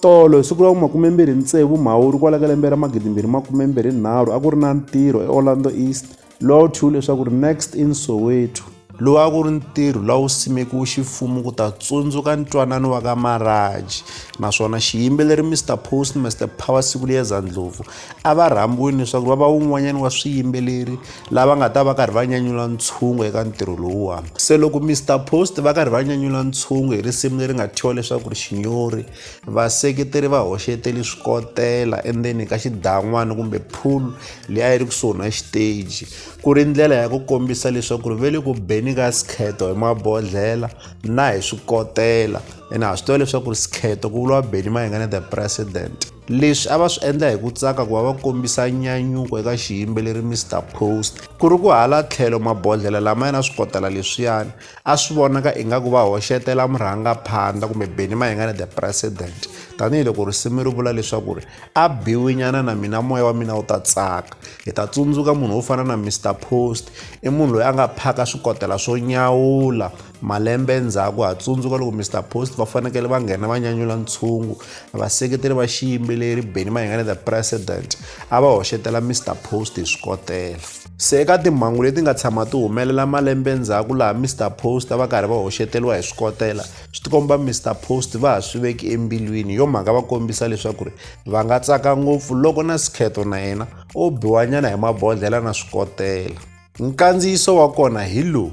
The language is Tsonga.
Tolo hi siku ra vumakumembirhi ntsevu Mhawuri kwala ka lembe ra magidimbirhi makumembirhi nharhu a ku ri na ntirho eOrlando East lowa wu thyiwile leswaku ri Next in Soweto. Lowu a ku ri ntirho lowu simekiwe ximfumo ku ta tsundzuka ntwanano wa ka Maraji naswona xiyimbeleri Mister Postmaster Power Sikuliyeza Ndlovu a va rhambiwile leswaku va va wun'wanyana wa swiyimbeleri lava nga ta va karhi va nyanyula ntshungu eka ntirho lowuwani se loko mr post va karhi va nyanyula ntshungu hi risimu leri nga thyiwa leswaku ri xinyori vaseketeri va hoxeteli swikotela endzeni ka xidan'wana kumbe pool leyi a yi ri kusuhi na xiteji ku ri ndlela ya ku kombisa leswaku ri ve le ku beni ka sikheto hi mabodhlela na hi swikotela ene ha swi tiva leswaku ri sikheto ku vuriwa beni mayengane the president leswi a va swi endla hi ku tsaka ku va va kombisa nyanyuko eka xiyimbeleri mr post ku ri ku hala tlhelo mabodhlela lama yena swi kotela leswiyani a swi vonaka ingaku va hoxetela murhangaphandla kumbe beni mahingane the president tanihiloko risimu ri vula leswaku ri a biwinyana na mina moya wa mina wu ta tsaka hi ta tsundzuka munhu wo fana na mr post i munhu loyi a nga phaka swikotela swo nyawula Malembe endzhaku ha tsundzuka loko Mister Post va fanekele va nghena va nyanyula ntshungu. Vaseketeri va xiyimbeleri Benny Mayengani the President a va hoxetela Mister Post hi swikotela. Se eka timhangu leti nga tshama ti humelela malembe endzhaku laha Mister Post a va karhi va hoxeteriwa hi swikotela, swi tikomba Mister Post va ha swi veki embilwini. Hi yo mhaka va kombisa leswaku ri va nga tsaka ngopfu loko na Skhetho na yena o biwanyana hi mabodlhela na swikotela. Nkandziyiso wa kona hi lowu.